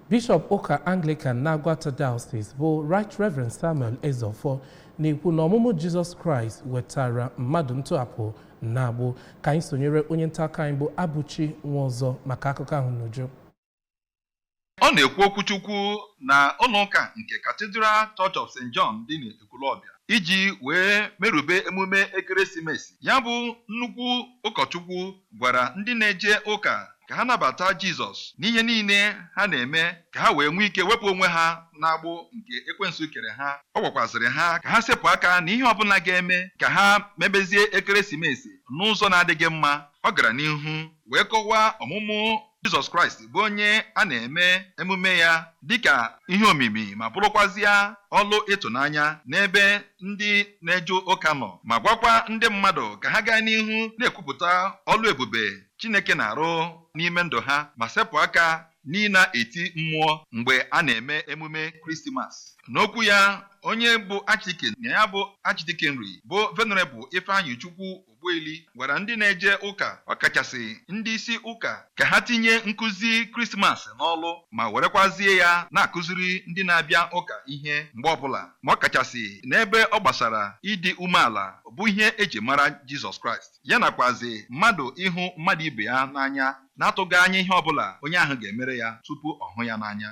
Bishọp ụka Anglican n'Aguata Diocese bụ Right Reverend Samuel Ezeofor na-ekwu na ọmụmụ Jizọs Kraịst wetara mmadụ ntọhapụ n'agbụ ka anyị sonyere onye nta akụkọ anyị bụ Abuchi Nwaọzọ maka akụkọ ahụ n'uju ọ na-ekwu okwuchukwu na ụlọụka nke Cathedral Church of St. John dị Ekwulọbịa iji wee merube emume Ekeresimesi. Ya bụ nnukwu ụkọchukwu gwara ndị na-eje ụka ka ha nabata Jizọs n'ihe niile ha na-eme ka ha wee nwee ike wepụ onwe ha n'agbụ nke ekwensu kere ha. Ọ gwakwazịrị ha ka ha sepụ aka n'ihe ọbụla ga-eme ka ha mebezie Ekeresimesi n'ụzọ na-adịghị mma. Ọ gara n'ihu wee kọwaa ọmụmụ Jizọs Kraịst bụ onye a na-eme emume ya dịka ihe omimi ma bụrụkwazịa ọlụ ịtụnanya n'ebe ndị na-eje ụka nọ ma gwakwa ndị mmadụ ka ha gaa n'ihu na-ekwupụta ọlụ ebube Chineke na-arụ n'ime ndụ ha ma sepụ aka n'ịna-eti mmụọ mgbe a na-eme emume Kristimas. N'okwu ya onye bụ Archdeacon na ya bụ Archdeaconry bụ Venerable Ifeanyichukwu Ogbueli gwara ndị na-eje ụka ọkachasị ndị isi ụka ka ha tinye nkụzi Krismas n'ọlụ ma werekwazie ya na-akụziri ndị na-abịa ụka ihe mgbe ọbụla ma ọkachasị n'ebe ọ gbasara ịdị umeala bụ ihe e ji mara Jizọs Kraịst ya nakwazị mmadụ ịhụ mmadụ ibe ya n'anya na-atụghị anya ihe ọbụla onye ahụ ga-emere ya tupu ọ hụ ya n'anya.